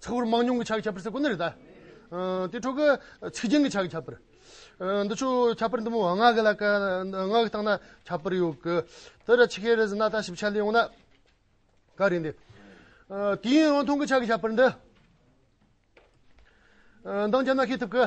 ཚགས་པར་མང་ཉུང་གི་ཆ་གི་ཁྱད་པར་ཟེར་དགོས་ནི་རེད་དཱ། དེའི་ཁྲོད་ཀྱི་ཚིག་རྒྱན་གྱི་ཆ་གི་ཁྱད་པར། འདི་ཆོས་ཁྱད་པར་འདི་མོ་བ་ངག་གི་ལ་ཀ་ངག་གི་སྟངས་ན་ཁྱད་པར་ཡོད་གི། དེ་ལ་ཆི་ཁའི་རེ་ཟི་ན་ད་ཞིབ་ཆ་ལས་ཡོང་ན་ག་རེད་འདི། དུས་ཡུན་རིང་ཐུང་གི་ཆ་གི་ཁྱད་པར་འདི། འདང་རྒྱབ་ན་ཤེས་ཐུབ་གི།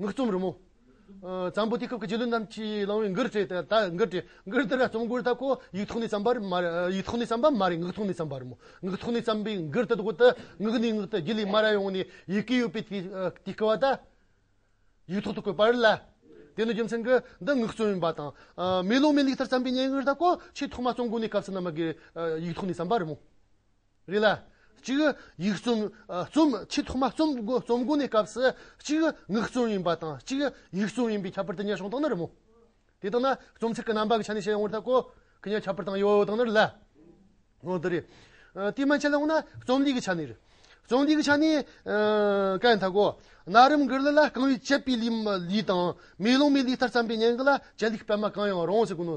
ངག་རྩོམ་རི་མོ། གཙང་པོ་དུས་སྐབས་ཀྱི་རྗེས་ལུས་རྣམས་ཀྱིས་བླངས་བའི་མགུར་བྲིས་དང་དག་མགུར་བྲིས། མགུར་དེ་འདྲ་རྩོམ་མགུར་དག་གོ། ཡིག་ཐོག་ནས་བརྩམས་པར་མ་རེད། ཡིག་ཐོག་ནས་བརྩམས་པ་མ་རེད་ངག་ཐོག་ནས་བརྩམས་པ་རེད་མོད། ངག་ཐོག་ནས་བརྩམས་པའི་མགུར་དེ་དག་ཏུ། ངག་ནས་ངག་ཏུ་རྒྱུད་ལས་མ་ར་ཡོང་ནས། ཡི་གེ་ཡོད་པའི་དུས་སྐལ་བ་དག། ཡིག་ཐོག་ཏུ་བཀོད་པར་སླ། དེ་ནི་རྒྱུ་མཚན་གྱིས། འདི་ངག་རྩོམ་ཡིན་པ་དང། མེ་ལོང་མེ་ལེགས་ལྟར་བརྩམས་པའི་སྙན་ངག་དག་གོ། ཆེས་ཐོག་མ་རྩོམ་མགུར་ནི་སྐབས་སུ་ན་མ་དགོས། ཡིག་ཐོག་ནས་བརྩམས་པ་རེད་མོད། རེད་ལ། གཅིག། ཡིག་རྩོམ། རྩོམ། ཆེས་ཐོག་མ་རྩོམ། རྩོམ་གོ་ནས་སྐབས་སུ། གཅིག། ངག་རྩོམ་ཡིན་པ་དང་གཅིག། ཡིག་རྩོམ་ཡིན་པའི་ཁྱད་པར་དེ་གཉིས་བྱུང་སྟངས་ནི་རི་མོ། དེ་དག་ན། རྩོམ་ཚིག་གི་རྣམ་པ་གི་ཆ་ནས་བཤད་ཡོང་བར་ཐག་གོ། གི་གཉིས་ཁྱད་པར་དང་ཡོད་སྟངས་ནི་རི་ལ། ངོ་འདི་རེད། དེ་མན་ཆད་ལ་ཡོང་ན། རྩོམ་ལུས་ཀྱི་ཆ་ནས་རི། རྩོམ་ལུས་ཀྱི་ཆ་ནས། སྐད་ཐག་གོ། ན་རིམ་འགར་ལི་ལ་རྐང་བའི་བཅད་པའི་ལུས། ལུས་དང། མེ་ལོང་མའི་ལུས་ལྟར་བརྩམས་པའི་བརྙན་གྱི་ལ། བཅད་ལུས་ཀྱི་པད་མ་གང་ཡང་རང་ཟེར་དགོས་ནོ།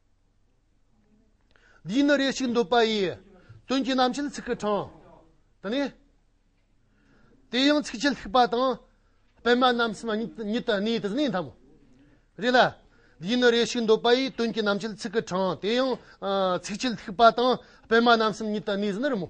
འདི་ཡིན་ན་རེ་ཞིག་འདོད་པ་ཡི། དོན་གྱི་རྣམ་བཤད་ཚིག་གི་གྲངས། དང་ནི། དེ་ཡང་ཚིག་བཅད་ལྷུག་པ་དང། སྤེལ་མ་རྣམ་གསུམ་ཉིད་དུ་གནས་དེ་ནི་འཐབ། རེ་ལ། འདི་ཡིན་ན་རེ་ཞིག་འདོད་པ་ཡི། དོན་གྱི་རྣམ་བཤད་ཚིག་གི་གྲངས། དེ་ཡང། ཚིག་བཅད་ལྷུག་པ་དང། སྤེལ་མ་རྣམ་གསུམ་ཉིད་དུ་གནས་དེ་ནི་རི་མོ།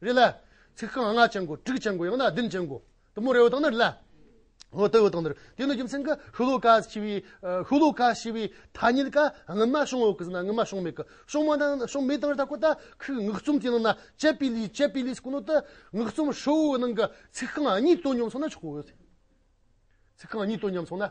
རེད་ལ། ཚིག་རྐང་ལྔ་ཅན་གོ། དྲུག་ཅན་གོ་ཡང་ན་བདུན་ཅན་གོ། དུ་མོ་རེའུ་དང་ནི་རེ་ལ། འོ་དེའུ་དང་ནི་རེ། དེ་ནི་རྒྱུ་མཚན་གྱི་ཧུ་ལུ་ཀ་ཞེས་པའི། ཧུ་ལུ་ཀ་ཞེས་པའི་ཐ་སྙད་ཀ་ངུ་མ་བྱུང་འོག་གི་ཟིན་ན་ངུ་མ་བྱུང་མེད་ཀི། བྱུང་མ་དང་བྱུང་མེད་དང་རེ་ད་གོ་ད་ཁུག་ངུག་རྩོམ་གྱི་ནང་ན་ཅེ་པི་ལིས་ཅེ་པི་ལིས་གོ་ནོ་ཏི་ངུག་རྩོམ་ཧྲིལ་བོའི་ནང་གི་ཚིག་རྐང་གཉིས་དོ་མཉམ་སོང་ན་ཆོག་གོ། ཚིག་རྐང་གཉིས་དོ་མཉམ་སོང་ན།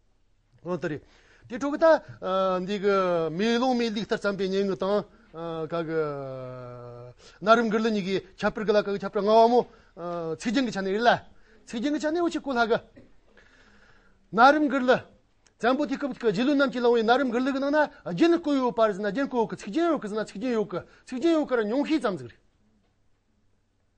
ཨོ་ཏི་རེད། དེ་ཕྲུ་གུ་ད། འདི་གི། མེ་ལོང་མའི་ལུགས་ལྟར་བརྩམས་པའི་སྙན་ངག་དང། ག་གི། ན་རིམ་འགར་ལི་གཉིས་ཀྱིས་ཁྱབ་སྤེལ་གི་ལ་ཁ་གི་ཁྱབ་སྤེལ་སྔ་བ་མོ། ཚིག་རྒྱན་གྱི་ཆ་ནས་རེད་ལ། ཚིག་རྒྱན་གྱི་ཆ་ནས་འོ་ཆི་ཀོ་ལྷ་གི། ན་རིམ་འགར་ལི། བཙན་པོ་དུས་སྐབས་ཀྱི་རྗེ་བློན་རྣམས་ཀྱིས་བླངས་བའི་ན་རིམ་འགར་ལི་གི་ནང་ན་རྒྱན་བཀོད་ཡོད་པར་ཟེར་ན་རྒྱན་བཀོད་འོག་གི་ཚིག་རྒྱན་ཡོད་གི་ཟེར་ན་ཚིག་རྒྱན་ཡོད་གི། ཚིག་རྒྱན་ཡོད་གི་ར་ཉུང་ཤས་ཙམ་ཟིག་རེད།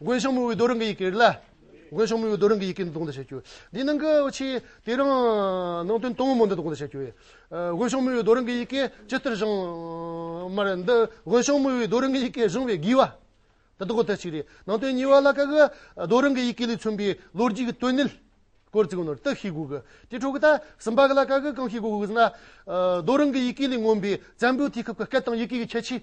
དགོན་གཞུང་མི་བོའི་རྡོ་རིང་གི་ཡི་གེ་རེད་ལ། དགོན་གཞུང་མི་བོའི་རྡོ་རིང་གི་ཡི་གེ་འདི་དགོངས་འདུས་བྱ་རྒྱུ། འདིའི་ནང་གི་འོ་ཆེ་དེ་རིང་ནང་དོན་དང་མོ་འདི་དགོངས་འདུས་བྱ་རྒྱུ། དགོན་གཞུང་མི་བོའི་རྡོ་རིང་གི་ཡི་གེ་ཇི་ལྟར་བཞེངས། མ་རེད་འདི་དགོན་གཞུང་མི་བོའི་རྡོ་རིང་གི་ཡི་གེ་བཞེངས་བའི་དགོས་བ། ད་དགོངས་དོན་གཅིག་རེད། ནང་དོན་གཉིས་བ་ལ་ཀ་གི་རྡོ་རིང་གི་ཡི་གེ་ལས་མཚོན་པའི་ལོ་རྒྱུས་ཀྱི་དོན་གནད་སྐོར་ཚིག་ནོར་དག་ཤེས་དགོས་གི། དེའི་ཁྲོད་ཀྱི་ད་གསུམ་པ་གི་ལ་ཀ་གི་གང་ཤེས་དགོས་གི་ཟེར་ན། རྡོ་རིང་གི་ཡི་གེ་ལས་མངོན་པའི་བཙན་པོའི་དུས་སྐབས་ཀྱི་སྐད་དང་ཡི་གེ་ཀྱི་ཁྱད་ཆོས།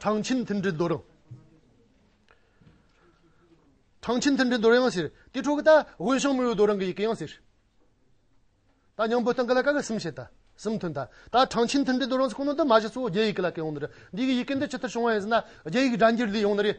ཁྲང་ཆིན་མཐུན་སྒྲིལ་རྡོ་རིང། ཁྲང་ཆིན་མཐུན་སྒྲིལ་རྡོ་རིང་ཟེར། དེའི་ཁྲོད་ཀྱི་ད་ཝུན་ཤང་མུའུ་རྡོ་རིང་གི་ཡི་གེ་ཡང་ཟེར། ད་ཉང་པོ་སྟེང་གི་ལ་ཀ་གི་གསུམ་ཞེས་ད་གསུམ་མཐུན། ད་ལྟ་ཁྲང་ཆིན་མཐུན་སྒྲིལ་རྡོ་རིང་ཟེར་ཁོ་ནའི་འདི་མ་གཞི་གཙོ་བོ་རྒྱ་ཡིག་གི་ལ་ཀའི་ཡོང་འདི་རེད། འདི་གི་ཡི་གེ་འདི་ཇི་ལྟར་བྱུང་བ་ཡིན་ཟེར་ན། རྒྱ་ཡིག་སྒྲ་འགྱུར་འདི་ཡོང་འདི་རེད།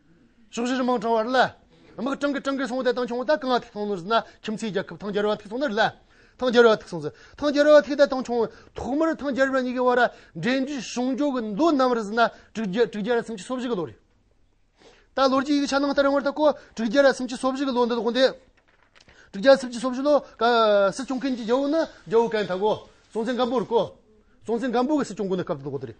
ཕྱོགས་བཞིར་དམག་དྲངས་བ་ལ། དམག་དྲངས་ཀྱི་དྲངས་ཀྱི་སོང་སྟེ་ཐང་ཆུང་བ་དང་གང་ལ་ཐིག་སོང་ནུས་ན་ཁྱིམ་མཚེས་རྒྱལ་ཁབ་ཐང་རྒྱལ་རོལ་བ་ཐིག་སོང་ནུས་ལ། ཐང་རྒྱལ་རོལ་བ་ཐིག་སོང་ཚེ་ཐང་རྒྱལ་རོལ་བ་ཐིག་སྟེ་ཐང་ཆུང་ཐོག་མར་ཐང་རྒྱལ་རོལ་བ་གཉིས་ཀྱི་དབར་འབྲེལ་འདྲིས་གཞུང་འཇོག་གི་མདོ་རྣམ་རིགས་ན་དྲུག་བརྒྱ་དྲུག་བརྒྱ་རེ་སུམ་ཅུ་སོ་བཞི་གི་ལོ་རེད། ད་ལོར་གྱི་ཡིག་ཆ་ནང་ལྟར་ཡང་བར་ཐག་གོ་དྲུག་བརྒྱ་རེ་སུམ་ཅུ་སོ་བཞི་གི་ལོ་འདི་དགོངས་ཏེ། དྲུག་བརྒྱ་སུམ་ཅུ་སོ་བཞི་ལོ་ཀ་སྲིད་སྐྱོང་མཁན་གྱི་རྒྱལ་བོ་ནི་རྒྱལ་བོ་ཀན་དྷ་གོ། སྲོང་བཙན་སྒམ་པོ་རེད་གོ། སྲོང་བཙན་སྒམ་པོ་གི་སྲིད་སྐྱོང་དགོངས་ནས་སྐབས་དེ་དགོངས་ཏེ་རེད།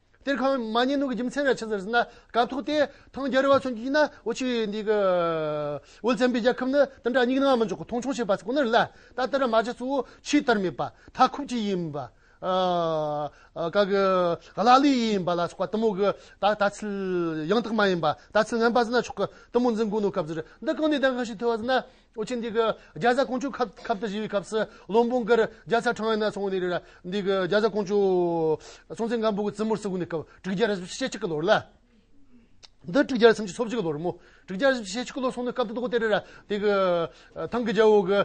གཏེར་ཁང་མ་ཉེས་ནོར་གྱི་རྒྱུ་མཚན་ར་ཆེ་ཟེར་ཟིན་ན་དགའ་ཐུག་སྟེ། ཐང་རྒྱལ་རི་བ་ཚོ་མགྱིགས་ན་འོ་ཆི་འདི་གི། འོལ་ཙེ་འབི་རྒྱལ་ཁབ་ནི་དེ་འདྲ་སྙིགས་ན་མི་འཇོག་གོ་མཐོང་ཆུང་བྱེད་པ་ཚོ་ཁོ་ནར་ལ་ད་ལྟ་ར་མ་རྗེ་གཙོ་བོ་ཆིས་ལྟར་མེད་པ་ཐ་ཁུབ་ཅིག་ཡིན་པ། ག་གི། ག་ལ་ལི་ཡིན་པ་ལ་སོགས་པ་གཏི་མུག་གི་ད་ད་ཚིལ་ཡང་དག་མ་ཡིན་པ་ད་ཚིལ་ངན་པ་ཟིན་ན་ཆོག་གི་གཏི་མུག་འཛིན་དགོས་ནོ་སྐབས་འདིར་འདི་གང་ནས་གདམས་ཁ་ཞིག་ཐོས་བ་ཟིན་ན་ཨོ་ཆེན་འདི་གི་རྒྱ་བཟའ་ཀོང་ཇོ་ཁབ་ཁབ་ཏུ་བཞེས་པའི་སྐབས་སུ་བློན་དཔོན་འགར་རྒྱ་ཚ་ཁྲང་ཡོད་ན་སོང་ནས་རེད། འདི་གི་རྒྱ་བཟའ་ཀོང་ཇོ། སྲོང་བཙན་སྒམ་པོ་གི་བཙུན་མོར་བསུ་དགོས་ནས་སྐབས་དྲུག་བརྒྱ་རེ་བཞི་ཕྱེད་གཅིག་གི་ལོར་ལ། འདི་དྲུག་བརྒྱ་རེ་སུམ་ཅུ་སོ་གཅིག་གི་ལོར་མོ། དྲུག་བརྒྱ་རེ་བཞི་ཕྱེད་གཅིག་གི་ལོར་སོང་ནས་སྐབས་དེ་དག་དེ་རེད། འདི་གི། ཐང་གི་རྒྱལ་པོ་གི།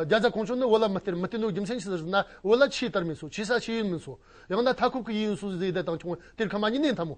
རྒྱ་བཟའ་ཀོང་ཇོ་ནི་བོད་ལ་མི་སྟེར་མི་སྟེར་འདུག་རྒྱུ་མཚན་ཇི་ལྟར་ཟེར་ན་བོད་ལ་ཆུའི་དར་མེད་སོ་ཆུའི་ས་ཆུའི་ཡུལ་མིན་སོ། ཡང་ན་མཐའ་འཁོབ་ཀྱི་ཡུལ་ཡིན་སོ་ཟེར་ཏེ་དང་ཁྱུང་བོ་སྟེར་ཁ་མ་ཉིད་ནས་འཐམ་མོ།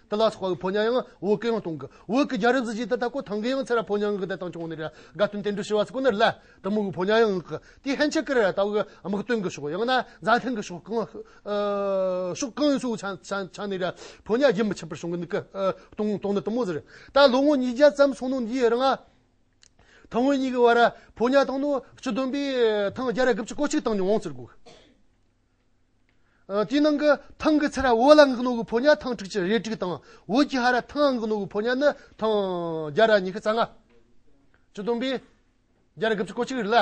ཏི་ལ་སོགས་པ་གི་ཕོ་ཉའང་བོད་སྐད་ཡང་གཏོང་གི། བོད་ཀྱི་རྒྱ་རིགས་སུ་གཞི་བདག་དག་གོ་ཐང་གིའང་ཚེ་ར་ཕོ་ཉའང་གི་བདག་དང་བྱུང་ནས་ར་དགའ་སྟོན་བསྟན་འགྲོ་ཞུ་བ་སོགས་ཀུན་ནས་ལ་དང་མོ་གི་ཕོ་ཉའང་གི། དེའི་ཧན་ཆད་ཀི་ར་ར་དག་གི་དམག་དོན་གི་ཕྱོགས་ཡང་ན་མཛའ་མཐུན་གི་ཕྱོགས་གང་ཕྱོགས་གང་ཡིན་སོགས་ཆ་ནས་ར་ཕོ་ཉ་རྒྱུན་མི་ཆད་པར་བྱུང་གི་འདུག་གི། གཏོང་གཏོང་ནི་དུ་མོ་ཟེར། ད་ལོ་ངོ་ཉིས་བརྒྱ་ཙམ་སོང་ནོ་འདིའི་རང་ཨ་ཐང་བོད་གཉིས་ཀྱི་བར་ར་ཕོ་ཉ་བཏང་ནོ་སྤྱི་བདུན་པའི་ཐང་བརྒྱ་ར་དགུ་བཅུ་གོ་གཅིག་བཏང་ནས་འོང་ཟེར་གོ། དེའི་ནང་གི་ཐང་གི་ཚད་ར་འོད་ལ་ངག་ནོར་བུ་ཕོ་ཉའི་ཐང་དྲུག་ཅུ་རེ་དྲུག་དང་འོད་ཀྱི་ཧ་ར་ཐང་ངག་ནོར་བུ་ཕོ་ཉ་ནི་ཐང་བརྒྱ་ར་ཉི་ཤུ་རྩ་ལྔ། བཅུ་སྟོང་པའི། བརྒྱ་ར་དགུ་བཅུ་གོ་གཅིག་རེ་ལ་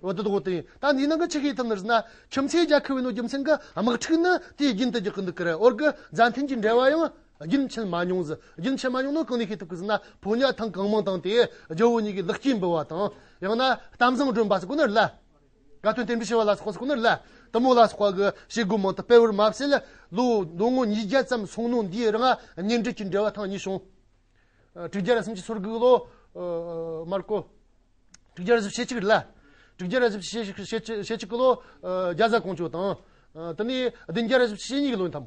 འོད་དུ་བཟློག་སྟེ། ད་འདིའི་ནང་གི་ཆུ་ཤེལ་ཐུབ་ནི་རེ་ན་ཁྱིམ་མཚེས་རྒྱ་ཁུ་བའི་ནོར་རྒྱུ་མཚན་གྱི་དམག་འཁྲུག་ནི་དེའི་རྒྱུན་དུ་རྒྱག་གི་འདུག་གི་རེད་འོར་གི་རྫ་འཐེན་གྱི་འབྲེལ་བ་ཡང་རྒྱུན་ཆད་མ་མྱོང་ཟི་རྒྱུན་ཆད་མ་མྱོང་ན་གང་ནས་ཤེས་ཐུབ་གི་ཟི་ན་ཕོ་ཉའི་ཐང་གང་མང་དང་དེའི་ཇོ་བོ་ཉིད་ཀྱི་ལག་སྐྱེས་འབུལ་བ་དང་ཡང་ན་གཏམ་བཟང་སྒྲོན་པ་སོགས་གོ་ནི་རེ་ལ། དགའ་སྟོན་བསྟན་པའི་བྱ་བ་ལ་སོགས་པ་སོགས་ནོར་ལ་དུ་མོ་ལ་སོགས་པ་གི་བྱེད་སྒོ་མང་དུ་སྤེལ་བར་མ་བྱས་ལ། ལོ་ཟློ་ངོ་ཉིས་བརྒྱ་ཙམ་སོང་ནོ་འདིའི་རང་གཉེན་འབྲེལ་གྱི་འབྲེལ་བ་ཐང་ཉིད་བྱུང། དྲུག་བརྒྱ་རེ་སུམ་ཅུ་སོར་དགུའི་ལོ། མར་ཀོ། དྲུག་བརྒྱ་རེ་སུམ་ཞེ་གཅིག་རེ་ལ། དྲུག་བརྒྱ་རེ་སུམ་ཅུ་ཞེ་གཅིག་གི་ལོ། རྒྱ་བཟའ་ཀོང་ཇོ་དང། དེ་ནས་བདུན་བརྒྱ་རེ་སུམ་ཅུ་ཞེ་གཉིས་ཀྱི་ལོ་ཡིན་ཏམ།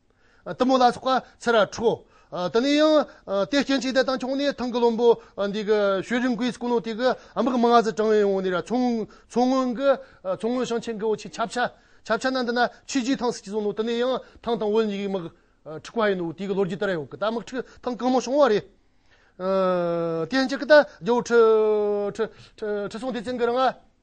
གཏི་མུག་ལ་སོགས་པ་ཚེ་ར་འཁྲུག། དེ་ནས་ཡང་དེའི་སྐྱེ་མཆེད་དེ་དང་ཕྱོགས་ནས་ཐང་གི་བློན་པོ་འདི་གི་ཤོད་རིན་ཀུའི་སྐུ་ནོར་དེ་གི་ཨ་མི་གི་མི་ང་ཟི་ཀྲང་ཡོང་ནས་ར་མཚོ་སྔོན་གི་མཚོ་སྔོན་ཞིང་ཆེན་གི་འོ་ཆི་ཆབ་ཆ་ཆབ་ཆ་ན་འདི་ན་ཆུས་རྒྱུའི་ཐང་སི་ཅི་ཟུང་ནོ་དེ་ནས་ཡང་ཐང་དང་བོད་གཉིས་ཀའི་དམག་འཁྲུག་པ་ཡིན་ནོ་དེ་གི་ལོ་རྒྱུས་དེ་ར་ཡོང་གི་ད་དམག་འཁྲུག་ཐང་གང་མང་བྱུང་བ་རེད། དེ་ཡན་ཅིག་གི་ད་རྒྱལ་བོ་ཁྲི་སྲོང་ལྡེ་བཙན་གི་རང་ཨ།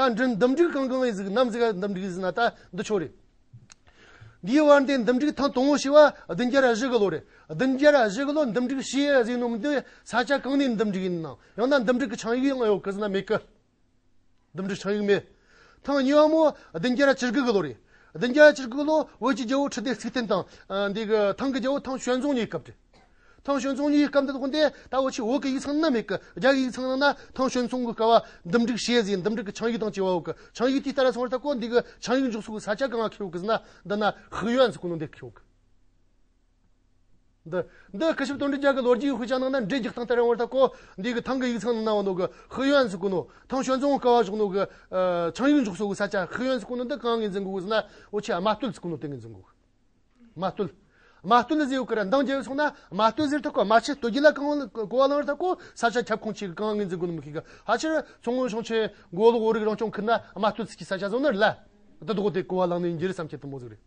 རྟ་མགྲིན་འདུམ་འགྲིག་གང་གང་བའི་གཟུགས་རྣམས་གཟིགས་ལ་འདུམ་འགྲིག་གཟིགས་ན་རྟ་འདི་ཕྱོགས་རེད། འདིའི་བར་འདི་འདུམ་འགྲིག་ཐང་སྟོང་ངོ་ཞེས་པ་བདུན་བརྒྱར་བཞི་གི་ལོ་རེད། བདུན་བརྒྱར་བཞི་གི་ལོ་འདུམ་འགྲིག་ཞེས་གཟིགས་ནོ་མི་འདི་ས་ཆ་གང་ནས་འདུམ་འགྲིག་ཡིན་ནམ་ཡང་ན་འདུམ་འགྲིག་གི་ཆང་ཡིག་ཡང་ཡོད་གི་ཟེར་ན་མེད་གི། འདུམ་འགྲིག་ཆང་ཡིག་མེད། ཐང་ཉི་བ་མོ་བདུན་བརྒྱར་བཅུ་དགུ་གི་ལོ་རེད། བདུན་བརྒྱར་བཅུ་དགུ་གི་ལོ་བོད་ཀྱི་རྒྱལ་བོ་ཁྲི་ལྡེ་ཚིག་བརྟན་དང། འདི་གི་ཐང་གི་རྒྱལ་བོ་ཐང་ཞོལ་རྫོང་གཉིས་སྐབས་རེད། ཐང་ཞོན་ཙུང་གཉིས་སྐབས་འདི་དགོན་སྡེ་ད་འོ་ཆུ་འོག་གི་ཡིག་ཚང་ནི་མེད་ཀི་རྒྱ་ཡི་ཡིག་ཚང་ནང་ན་ཐང་ཞོན་ཙུང་གི་སྐ་བ་འདུམ་སྒྲིག་བྱས་ཟིན་འདུམ་སྒྲིག་གི་ཆང་ཡིག་དང་བཅས་བ་འོག་གི་ཆང་ཡིག་དེ་ལྟར་ཚང་བར་ད་གོ་འདི་གི་ཆང་ཡིག་འཇོག་སུ་གི་ས་ཆ་གང་ང་ཁེའོ་གི་ཟི་ན་འདི་ན་ཧི་ཡོན་ཟི་གོ་ནོ་འདེ་ཁེའོ་གི། འདི་འདི་ཁི་ཞིབ་དོན་འགྲེལ་རྒྱ་གི་ལོ་རྒྱུས་ཧུ་ཅང་ནང་ན་འགྲེལ་རྒྱག་སྟངས་ལྟར་ཡོང་བར་ད་གོ་འདི་གི་ཐང་གི་ཡིག་ཚང་ནང་ན་བ་ནོ་གི་ཧི་ཡོན་ཟི་གོ་ནོ་ཐང་ཞོན་ཙུང་སྐ་བ་བཞག་ནོ་གི་ཆང་ཡིག་འཇོག་སུ་གི་ས་ཆ་ཧི་ཡོན་ཟི་གོ་ནོ་འདི་གང་ངེ་འཛིན་གོ་གི་ཟི་ན་འོ་ཆུ་ཨ་མ་སྟོད་ཟི་གོ་ནོ་དེ་ངེ་འཛིན་གོ་གི། རྨ་བརྟུལ། རྨ་བརྟུལ་ལ་ཟེའུ་ཀར་མདངས་རྒྱས་པའི་ཚོགས་རྣམས་རྨ་བརྟུལ་ཟེར་ཐག་གོ་རྨ་ཆེན་བརྟུལ་རྒྱུད་ལ་རྐང་བླངས་རྐང་བླངས་རེ་ཐག་གོ་ས་ཆ་ཁྱབ་ཁོངས་ཆེ་གི་རྐང་ངེས་འཛིན་དགོས་ནི་མི་ཤེས་ག་ཧ་ཆེར་མཚོ་སྔོན་ཞིང་ཆེན་མགོ་ལོག་བོད་རིགས་རང་སྐྱོང་ཁུལ་ན་རྨ་བརྟུལ་ཚིགས་ཀྱི་ས་ཆ་བཟང་ནི་རེད་ལ། དེ་ལྡོག་སྟེ་རྐང་བ་བླངས་ནི་ཡིན་རྒྱུ་རེད་བསམ་ཁྱེད་ཐུན་མོང་གཟུགས་རེད།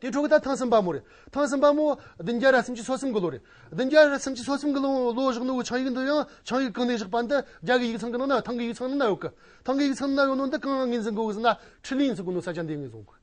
དེའི་འཕྲོ་གི་ད་ཐང་སྲིན་པ་མོ་རེད། ཐང་སྲིན་པ་མོ། བདུན་བརྒྱ་རེ་སུམ་ཅུ་སོ་གསུམ་གི་ལོ་རེད། བདུན་བརྒྱ་རེ་སུམ་ཅུ་སོ་གསུམ་གི་ལོའི་ལོ་བཞག་ནི་འོ་ཆང་ཡིག་འདི་ཡང་ཆང་ཡིག་གང་ནས་བཞག་པ་འདི་རྒྱ་གི་ཡིག་ཚང་གི་ནང་ན་ཐང་གི་ཡིག་ཚང་ནང་ན་ཡོད་གི། ཐང་གི་ཡིག་ཚང་ནང་ན་ཡོད་ནོ་འདི་རྐང་ངེས་འཛིན་དགོས་གི་ཟེར་ན་ཁྲི་གླིང་ཚུགས་གི་ནོ་ས་ཆ་འདི་ངེས་བཟུང་གི།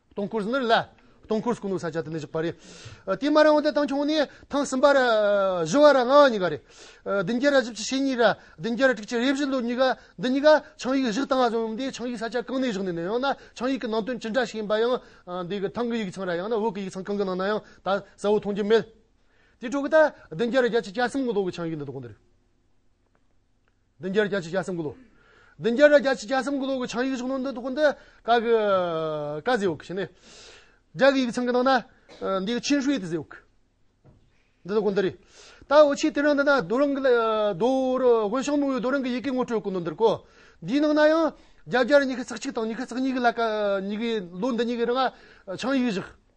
སྟོང་སྐུར་ནི་ལ། སྟོང་སྐུར་སྐུ་ནུ་ས་བཅད་དུ་ནི་བཞག་པ་རེད། དེ་མ་རང་བ་དེ་དང་ཆུང་བ་ནི་ཐང་གསུམ་པར། བཞི་བ་ར་ལྔ་བ་གཉིས་ཀ་རེད། བདུན་བརྒྱད་ར་བཞི་བཅུ་ཞེ་གཉིས་ར། བདུན་བརྒྱད་ར་དྲུག་བཅུ་རེ་བཞི་ལོ་གཉིས་ཀ། འདི་གཉིས་ཀ་ཆིངས་ཡིག་བཞི་དང་གསུམ་དེ་ཆིངས་ཡིག་ས་བཅད་གང་ནས་བཞག་ནས་ནི་ཡང་ན་ཆིངས་ཡིག་གི་ནང་དོན་ཅི་འདྲ་ཞིག་ཡིན་པ་ཡང། འདི་གི་ཐང་གི་ཡིག་ཚང་ར་ཡང་ན་འོག་གི་ཡིག་ཚང་གང་གི་ནང་ན་ཡང་ད་གསལ་བོ་མཐོང་རྒྱུ་མེད། དེའི་ཁྲོད་གི་ད་བདུན་བརྒྱད་ར་བརྒྱད་བཅུ་གྱ་གསུམ་གི་ལོ་གི་ཆིངས་ཡིག་འདི་དག་གོ་འདི་རེད། བདུན་བརྒྱར་བརྒྱ་ཆའི་བརྒྱ་གསུམ་དགུ་ལོ། བདུན་བརྒྱར་བརྒྱ་ཆའི་བརྒྱ་གསུམ་དགུ་ལོ་གི་ཆའང་ཡིག་གཞུང་ནང་དོན་དུ་བཀོད་འདུག་ཀ་གི་ཀ་ཟེའུ་ཀ་ཞེས་ནི། རྒྱ་གི་ཡིག་ཚང་གི་ནང་ན་འདི་ཡིག་ཆིན་ཧྲུའེ་ཏི་ཟེའུ་ཀ། འདི་དག་བཀོད་འདུག་རེད། ད་འོ་ཕྱིའི་དེ་རིང་འདི་ན་རྡོ་རིང་གི་ལ་རྡོ་རུ་དབོན་ཞང་མོ་ཡོས་རྡོ་རིང་གི་ཡི་གེའི་ངོ་སྤྲོད་བཀོད་འདུག་འདིར་གོ། འདིའི་ནང་ན་ཡང་རྒྱ་བརྒྱར་ཉི་ཤུ་རྩེག་གཅིག་དང་ཉི་ཤུ་རྩེག་གཉིས་ཀྱི་ལ་ཀ་གཉིས་ཀྱི་ལོ་འདི་གཉིས་ཀྱི་རིང་ལ་ཆའང་ཡིག་བཞག་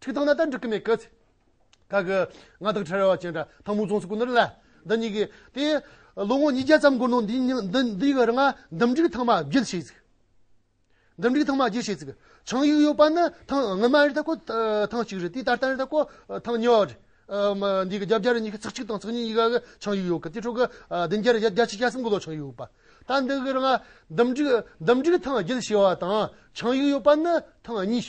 ཁྲིག་ཐང་ན་ད་འགྲིག་གི་མེད་གི། ད་གི། ང་དང་ཁྲེལ་བ་ཅན་འདྲ་ཐང་མོ་རྫོང་སུ་སྐུ་ནུར་ལ། འདི་གཉིས་ཀྱི། དེ། ལོ་ངོ་ཉིས་བརྒྱ་ཙམ་འགོར་ནོ་འདི་ཉིན་འདི་འདི་གི་རི་ང་འདུམ་འགྲིག་ཐང་མ་བརྒྱུད་བྱས་ཚིག། འདུམ་འགྲིག་ཐང་མ་བརྒྱུད་བྱས་ཚིག། ཆང་ཡུག་ཡོད་པ་ནི་ཐང་སྔོན་མ་རི་ད་ཀོ་ཐང་གཅིག་རེད་དེ་ད་ལྟ་རི་ད་ཀོ་ཐང་གཉིས་བ་རེད། མ་འདི་གི་རྒྱབ་རྒྱ་རི་གཉིས་ཀྱི་ཚིག་གཅིག་དང་ཚིག་གཉིས་ཀྱི་ག་གི་ཆང་ཡུག་ཡོད་གི་དེ་ཁྲོད་གི། བདུན་བརྒྱ་རི་བརྒྱ་ཆིག་བརྒྱ་གསུམ་གི་ལོ་ཆང་ཡུག་ཡོད་པ། ད་འདི་གི་རི་ང་འདུམ་འགྲིག་འདུམ་འགྲིག་ཐང་བརྒྱུད་བྱས་བ་དང་ཆང་ཡུག་ཡོད་པ་ནི་ཐང་གཉིས།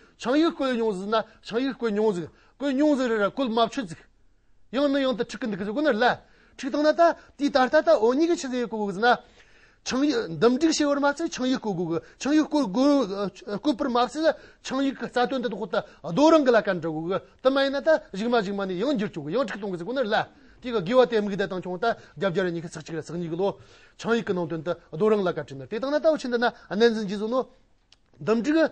ཆང་ཡིག་བསྐོལ་མྱོང་ཟིག་ན་ཆང་ཡིག་བསྐོལ་མྱོང་ཟིག་བསྐོལ་མྱོང་ཟིག་རེད་ར་བསྐོལ་མ་ཆོད་ཟིག། ཡང་ནི་ཡང་དུ་ཁྲིག་གི་འདུག་གི་ཟིག་གོ་ནི་ར། ཁྲིག་བཏང་ན་ད་དུས་ད་ལྟ་ད་འོ་ཉི་གི་ཆུ་ཚོད་ཡིན་གོ་དགོས་ཟིག་ན། ཆང་ཡིག་འདུམ་སྒྲིག་བྱེད་པར་མ་ཚད་ཆང་ཡིག་བསྐོལ་དགོས་གི་ཆང་ཡིག་བསྐོལ་དགོས་བསྐོལ་པར་མ་ཚད་ལ་ཆང་ཡིག་གི་རྩ་དོན་དེ་དག་ད་རྡོ་རང་གི་ལ་ཀན་དྲི་དགོས་གི་དེ་མ་ཡིན་ན་ད་གཞིག་མ་གཞིག་མ་ནི་ཡང་འགྱུར་ཆོག་གི་ཡང་ཁྲིག་བཏང་གི་ཟིག་གོ་ནི་ར། དེ་གི་དགོས་བ་དེ་མིག་བརྡ་བཏང་ཆོག་ད་རྒྱབ་རྒྱ་རི་ཉི་ཤུ་ཚགས་གཅིག་རེད་ཚགས་གཉིས་གི་ལོ། ཆང་ཡིག་གི་ནང་དོན་དེ་རྡོ་རང་ལ་ཀན་དྲི་ནི་དེ་བཏང་ན་ད་འོ་ཆི་འདི་ན་གནས་འཛིན་གྱིས་བཟོས་ནོ། འདུམ་སྒྲིག།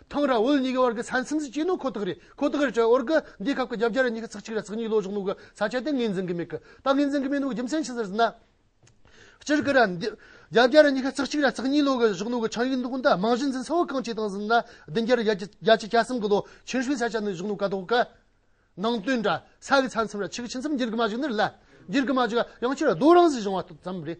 ཐང་ར་ཝུལ་གཉིས་ཀའི་བར་གྱི་ས་མཚམས་སུ་གྱི་ནོ་ཁོ་ཐག་རེད་ཁོ་ཐག་རེད་བྲལ་བར་གི་འདིའི་སྐབས་ཀྱི་རྒྱབ་རྒྱ་ར་གཉིས་ཀྱི་ཚགས་གཅིག་ར་ཚགས་གཉིས་ལོ་གཞོགས་ནུབ་གི་ས་ཆ་དེ་ངེས་འཛིན་གི་མེད་གི་ད་ངེས་འཛིན་གི་མེད་ནུབ་གི་རྒྱུ་མཚན་ཇི་ཟེར་ཟིན་ན། སྤྱིར་གི་ར་རྒྱབ་རྒྱ་ར་གཉིས་ཀྱི་ཚགས་གཅིག་ར་ཚགས་གཉིས་ལོ་གི་གཞོགས་ནུབ་གི་ཆང་ཡིག་འདུག་གི་འདི་རྨང་གཞི་འཛིན་ས་བོ་གང་ཅི་དང་ཟིན་ན་བདུན་བརྒྱར་བརྒྱ་ཆ་བརྒྱ་ཆ་གྱ་གསུམ་གི་ལོ་ཕྱིར་བཤུས་ས་ཆ་ནི་གཞོགས་ནུབ་ཀ་དོག་གི་ནང་དོན་འདྲ་ས་གི་ས་མཚམས་ར་ཆིག་གི་ཆིག་མཚམས་འགྱིར་གི་མ་བཞུགས་ནི་རེད་ལ་འགྱིར་གི་མ་བཞུགས་ཡང་ཕྱིར་རྡོ་རང་བཞིན་བཞེངས་བ་ཙམ་རེད།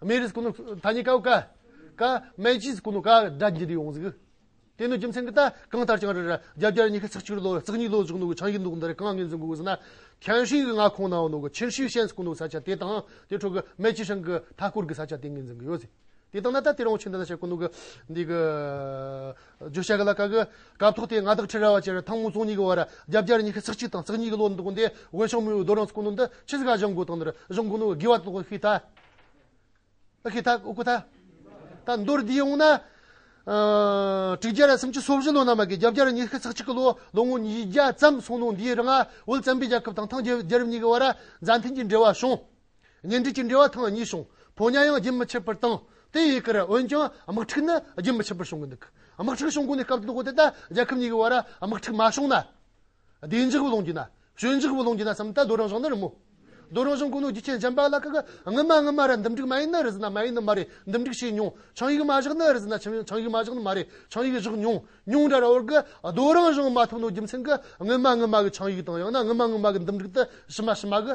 སྨན་རིས་ཀུན་ནོ་ཐ་སྙད་ཀའོ་ཀ། ཀ། སྨན་གྱིས་ཀུན་ནོ་ཀ་སྒྲ་འབྱིན་དུ་ཡོང་གཟིགས། དེ་ནི་རྒྱུ་མཚན་གྱི་རྟགས་གང་ལྟར་ཀྱང་རེད། རྒྱབ་རྒྱར་ཉི་ཤུ་རྩ་གཅིག་ལོ་རྩེག་གཉིས་ལོ་བཞུགས་ནོ་གི་ཆང་གིས་འདུག་འདིར་གང་ངེས་འཛིན་དགོས་ཟེར་ན། ཁྱེང་ཧྲིའི་མངའ་ཁོངས་ནའོ་ནོ་གི་ཁྱེར་ཤུའི་ཤན་ཀུན་ནོ་ས་ཆ་དེ་དང་དེ་འཕྲོ་གི་སྨད་ཆུ་ཤང་གི་མཐའ་སྐོར་གྱི་ས་ཆ་དེ་ངེས་འཛིན་གྱི་ཡོད། དེ་དང་ན་ད་དེར་འོང་ཕྱིན་ད་ས་ཆ་ཀུན་ནོ་གི་འདི་གི། བརྗོད་བྱ་ག་ལ་ཀ་གི་སྐབས་ཐོག་དེ་ང་དག་ཁྲི་རལ་བ་བཅས་ཐང་མོ་རྫོང་གཉིས་ཀྱི་བར་རྒྱབ་རྒྱར་ཉི་ཤུ་རྩེག་གཅིག་དང་རྩེག་གཉིས་ཀྱི་ལོ་འདུག་འདི་དབེན་ཤང་མོའི་རྡོ་རང་ས་ཀུན་ནོ་འདི་ཕྱི་ས་ག་བཞེངས་དགོས་དང་འདིར་བཞེངས་དགོས་ནོ་གི་དགེ་བ་དོགས་ཤིག་ད། ཨཀྵི་དྷ། ཨཀྵི་དྷ། ད་མདོར་འདི་ཡོང་ན། དྲུག་བརྒྱ་རེ་སུམ་ཅུ་སོ་བཞི་ལོ་ནང་མ་གི་རྒྱབ་རྒྱ་རུ་ཉི་ཤུ་རྩ་གཅིག་གི་ལོ་ལོ་ངོ་ཉིས་བརྒྱ་ཙམ་སོང་ནོ་འདིའི་རིང་བོད་བཙན་པོའི་རྒྱལ་ཁབ་དང་ཐང་རྒྱལ་རབས་གཉིས་ཀྱི་བར་མཛའ་མཐུན་གྱི་འབྲེལ་བ་བྱུང། གཉེན་སྒྲིག་གྱི་འབྲེལ་བ་ཐང་གཉིས་བྱུང་ཕོ་ཉའང་རྒྱུན་མི་ཆད་པར་བཏང། དེ་ཡི་ཁར་འོན་ཀྱང་དམག་འཁྲུག་ནི་རྒྱུན་མི་ཆད་པར་བྱུང་གི་འདུག་དམག་འཁྲུག་བྱུང་གོང་ནས་སྐབས་དང་པོ་དེ་ལྟར་རྒྱལ་ཁབ་གཉིས་ཀྱི་བར་དམག་འཁྲུག་མ་བྱུང་ན། བདེ་འཇགས་བུ་ལོན་གྱི་ན། ཞོད་འཇགས་བུ་ལོན་གྱི་ན་བསམ་ད་རྡོ་རང་ཞང་ནི་རི་མོ། རྡོ་རང་ཞང་ཀུན་ནོ་རྒྱུ་ཆེན་འཇམ་པ་ལ་ཀ་ཀ། ངི་མ་ངི་མ་ར་འདུམ་འགྲིག་མ་ཡིན་ན་རི་ཟི་ན་མ་ཡིན་ནི་མ་རེ་འདུམ་འགྲིག་བྱེད་མྱོང། ཆང་ཡིག་མ་བཞག་ན་རི་ཟི་ན་ཆང་ཡིག་མ་བཞག་ནི་མ་རེ་ཆང་ཡིག་བཞག་མྱོང། མྱོང་འདྲ་ར་བར་གི་རྡོ་རང་ཞང་མ་ཐུབ་ནོ་རྒྱུ་མཚན་གི་ངི་མ་ངི་མ་གི་ཆང་ཡིག་དང་ཡང་ན་ངི་མ་ངི་མ་གི་འདུམ་འགྲིག་ཏི་ཞི་མ་ཞི་མ་གི།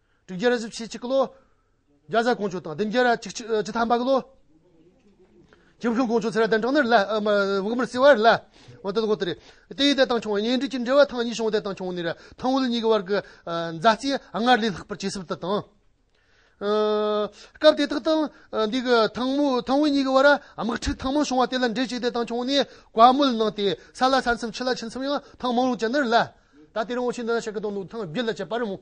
དྲུག་བརྒྱ་རེ་བཞི་བཞི་གཅིག་ལོ། རྒྱ་བཟའ་དཀོན་མཆོག་དང་བདུན་བརྒྱ་རེ་གཅིག་གཅིག་ཐ་མག་ལོ། ཁྱིམ་ཁྱུང་དཀོན་མཆོག་ཚེ་ར་གདན་དྲངས་ནས་བོད་མིར་བརྩེ་བར་ལ། དེ་དགོངས་ཏེ། དེ་ཡི་དད་དང་ཆུང་བ་གཉེན་སྒྲིག་ཅི་འདྲ་བ་ཐང་གཉིས་བྱུང་དད་དང་ཆུང་ནས་ཐང་དབུལ་གཉིས་ཀྱི་བར་གྱི་མཛའ་བརྩེ་སྔར་ལས་ལྷག་པར་ཇེ་ཟབ་ཏུ་བཏང། སྐབས་དེ་དག་ཐང་འདི་གི་ཐང་དབུལ་གཉིས་ཀྱི་བར་དམག་འཁྲུག་ཐེངས་མང་བྱུང་བ་དེ་ལ་འགྲེལ་བྱས་དད་དང་ཆུང་ནས་བཀའ་མོལ་གནང་སྟེ་ས་ལ་ས་མཚམས་ཁྱི་ལ་ཁྱི་མཚམས་ཡང་ཐང་མང་རུང་བྱས་ནས་ལ། ད་ལྟའི་རིང་བོ་ཆེ་འདི་ན་ཤ་ཁི་དང་ནུ་ཐང་བརྒྱུད་ལ་བྱས་པར་མོས།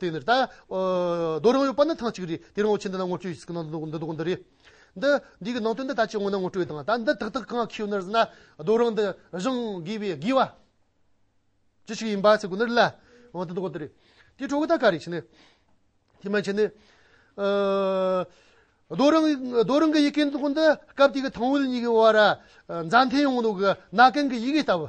དེ་ནི། རྡོ་རིང་བོའི་པར་ནི་ཐང་གཅིག་རེད། དེ་རིང་བོ་ཆེ་འདི་ན་ངོ་སྤྲོད་བྱེད་སྲིད་ཀྱི་འདུག་འདི་རེད། འདི། འདི་གི་ནང་དོན་འདི་ད་ཅི་ངོ་ན་ངོ་སྤྲོད་དང། ད་འདི་ཏག་ཏག་གང་ཁེའུ་ནར་ཟིན་ན། རྡོ་རིང་འདི་བཞེངས་དགོས་པའི་དགོས་བ། ཅི་ཞིག་ཡིན་པ་ཚིག་གོ་ནར་སླ། འོ་འདི་འདི་རེད། དེའི་གྲོགས་ད་ག་རེད་ཕྱིན་ནས། དེ་མ་ཕྱིན་ནས། རྡོ་རིང། རྡོ་རིང་གི་ཡི་གེ་འདི་སྐབས་དེ་གི་ཐང་ཝུལ་གཉིས་ཀྱི་བར། མཛའ་མཐུན་ཡོང་འདུག་གི་ན་གན་གྱི་ཡི་གེ་ལྟ་བུ།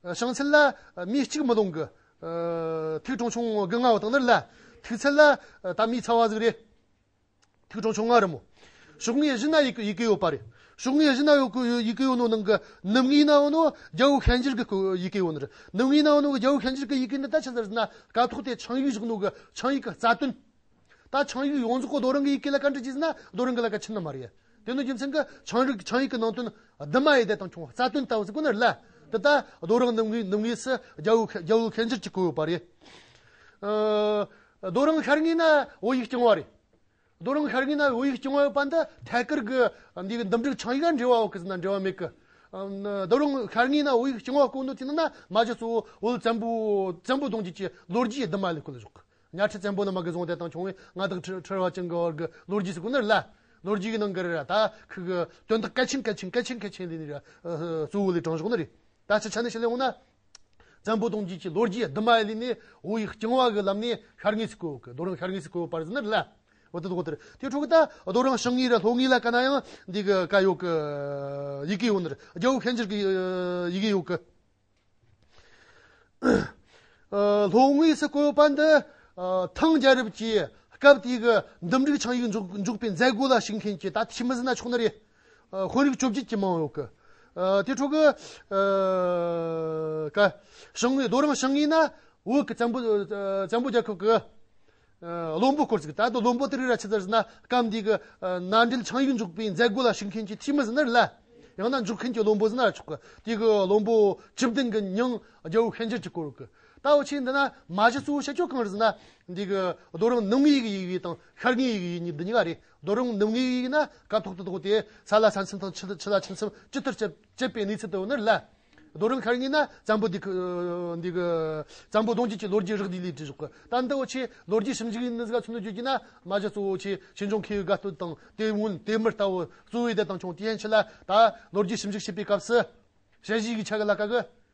བྱང་ཚད་ལ། མི་གཅིག་མི་སྟོང་གི། ཐིག་གྲངས་ཆུང་ངུ་དགུ་ལྔ་བ་དང་ནི་ལ། ཐིག་ཚད་ལ། ད་མི་ཚ་བ་ཟིག་རེད། ཐིག་གྲངས་ཆུང་ང་རི་མོ། ཕྱོགས་ངེས་བཞི་ན་ཡི་གེ་ཡི་གེ་ཡོད་པ་རེད། ཕྱོགས་ངེས་བཞི་ན་ཡོད་གི་ཡི་གེ་ཡོད་ནོ་ནང་གི་ནུབ་ངེས་ནའོ་ནོ་རྒྱ་བོད་ཤན་འབྱེད་ཀྱི་ཡི་གེ་ཡོད་ནི་རེད། ནུབ་ངེས་ནའོ་ནོ་གི་རྒྱ་བོད་ཤན་འབྱེད་ཀྱི་ཡི་གེ་ནི་ད་ཆ་ཟེར་ན་དཀའ་ཐུག་སྟེ་ཆིངས་ཡིག་བཞག་ནོ་གི་ཆིངས་ཡིག་གི་རྩ་དོན། ད་ཆང་ཡིག་ཡོངས་རྫོགས་ཀྱི་རྡོ་རིང་གི་ཡི་གེ་ལ་བཀའ་འདྲི་བགྱིས་ཟིན་ན་རྡོ་རིང་གི་ལ་བཀའ་ཆེན་ན་མ་རེད། དེ་ནི་རྒྱུ་མཚན་གྱི་ཆང་རིགས་ཆང་ཡིག་གི་ནང་དོན་རྡུལ་མ་ཡི་དེ་དང་ཁྱུང་རྩ་དོན་ལྟ་བུ་ཟིག་ཁོ་ནར་ལབ། འདི་ལྟར་རྡོ་རིང་ནུབ་ངོས་ནུབ་ངོས་སུ་རྒྱལ་བོའི་རྒྱལ་བོའི་ཁེངས་འགྱུར་གྱིས་བསྐོར་ཡོད་པ་རེད། རྡོ་རིང་ཤར་ངོས་ན་བོད་ཡིག་རྐྱང་བ་རེད། རྡོ་རིང་ཤར་ངོས་ན་བོད་ཡིག་རྐྱང་བ་ཡོད་པ་འདི་ཐད་ཀར་གྱི་འདིའི་འདུམ་འགྲིག་ཆང་ཡིག་ལ་འབྲེལ་བ་འོག་གི་ཟིན་ན་འབྲེལ་བ་མེད་ཀི། རྡོ་རིང་ཤར་ངོས་ན་བོད་ཡིག་རྐྱང་བ་བསྐོར་འདུག་ཅེ་ན་ན་མ་གཞི་གཙོ་བོ་བོད་བཙན་པོ་བཙན་པོ་གདུང་རྒྱུད་ཀྱི་ལོ་རྒྱུས་རྡུལ་མ་ལས་ཁོ་ལ་གཞོག་གི་གཉའ་ཁྲི་བཙན་པོ་ནི་མ་གི་རྫོང་དེ་དང་ཆུང་བའི་མངའ་བདག་ཁྲི་ཁྲི་རོ་ཅན་གྱི་བར་གྱི་ལོ་རྒྱུས་སུ་ཀུ་ནར་ལཱི། ལོ་རྒྱུས་ཀྱི་ནང་གི་རི་ར་ད་ཁི་གི་དོན་དག་གལ་ཆེན་གལ་ཆེན་གལ་ཆེན་གལ་ཆེན་ལས་ནི་རི་གཙོ་བོ་ལས་དྲང་གཞག་ནི་རི་ད་སྤྱི་ཆ་ནས་ཤི་ལེ་འོང་ན། བཙན་པོ་གདུང་རྒྱུད་ཀྱི་ལོ་རྒྱུས་བསྡུ་མ་ལས་ནི་འོ་ཡིག་རྐྱང་བ་གི་ལམ་ནས་ཤར་ངོས་སུ་བཀོད་གི་རྡོ་རིང་ཤར་ངོས་སུ་བཀོད་པར་ཟིན་ནི་ལཱི། འོ་དེ་དོག་དེར་དེའི་ཁྲོད་ཀྱི་ད་རྡོ་རིང་ཞིང་ངེས་ར་ལྷོ་ངེས་ལ་ཀ་ན་ཡང་འདི་གི་ཀ་ཡོག་གི་ཡི་གེ་ཡོད་ནི་རི་རྒྱལ་བོ་ཤན་འབྱེར་གྱི་ཡི་གེ་ཡོག་གི། ལྷོ་ངོས་སུ་བཀོད་པ་འདི་ཐང་རྒྱལ་རབས་ཀྱི་སྐབས་དེ་གའི་འདུམ་འགྲིག་ཆིངས་ཡིག་འཇོག་པའི་མཛད་སྒོ་ལ་ཞུགས་མཁན་གྱི་ད་ཐེངས་མི་སྣ་ཕྱོགས་འདི་རེད། དཔོན་རིགས་བཅོ་བརྒྱད་ཀྱི་མང་ཡོད། དེའི་ཁྲོད་ཀྱི་ཞང་བོད་རྡོ་རིང་ཞིང་ཡིན་ན་བོད་ཀྱི་བཙན་པོ་རྒྱལ་ཁབ་ཀྱི་བློན་པོ་སྐོར་ཅིག་གིས་ད་དུང་བློན་པོ་དེར་ར་ཆི་ཙར་ཟེར་ན་སྐབས་འདིའི་གི་མནའ་འབྲེལ་ཆང་ཡིག་འཇུག་པའི་མཛད་སྒོ་ལ་ཞུགས་མཁན་གྱི་འཐུས་མི་ཟེར་ན་རི་ལ། ཡང་ན་འཇུག་མཁན་གྱི་བློན་པོ་ཟེར་ན་ར་ཆུག་གི་དེའི་གི་བློན་པོ་སྤྱི་བདུན་གྱི་ཉིང་རྒྱལ་བོའི་ཤན་འབྱེད་ཀྱི་སྐོར་གི་ལྟ་བ་ཆེ་འདི་ན་མ་གཞི་གཙོ་བོ་བཤད་ཕྱོགས་གང་རེད་ཟེར་ན། འདིའི་གི་རྡོ་རིང་ནུབ་ངོས་ཡིག་ཡིག་དང་ཤར་ངོས་ཡིག་ཡིག་གཉིས་འདི་གཉིས་ཀ་རེད་རྡོ་རིང་ནུབ་ངོས་ཡིག་ཡིག་ན་སྐབས་ཐོག་ཏུ་དོགས་ཏེ་ས་ལ་ས་མཚམས་དང་ཆུ་ལ་ཆུ་མཚམས་ཅི་ལྟར་བྱེད། བཅད་པའི་གནས་ཚུལ་དུ་ནི་ལ། རྡོ་རིང་ཤར་ངོས་ན་བཙན་པོ་འདུག། བཙན་པོ་གདོང་བྱེད་ཀྱི་ལོ་རྒྱུས་རགས་བསྡུས་ལས་བྲིས་ཤོག་གི། ཏན་ཏའོ་ཆེས་ལོ་རྒྱུས་ཞིབ་འཇུག་ཡིན་ནི་ག་ཚོད་ནས་བརྗོད་རྒྱུ་ན། མ་གཞི་གཙོ་བོ་ཆེས་ཕྱི་འབྱུང་མཁས་པའི་དགའ་སྟོན་དང་དེ་སྔོན་དེ་མུར་ལྟ་བུ་གཙོ་བོའི་སྡེ་དང་ཆུང་དེའི་ཡན་ཆད་ལ་ད། ལོ་རྒྱུས་ཞིབ་འཇུག་བྱེད་པའི་སྐབས་སུ། དཔྱད་གཞིའི་ཡིག་ཆ་གི་ལ་དཀའ་གི།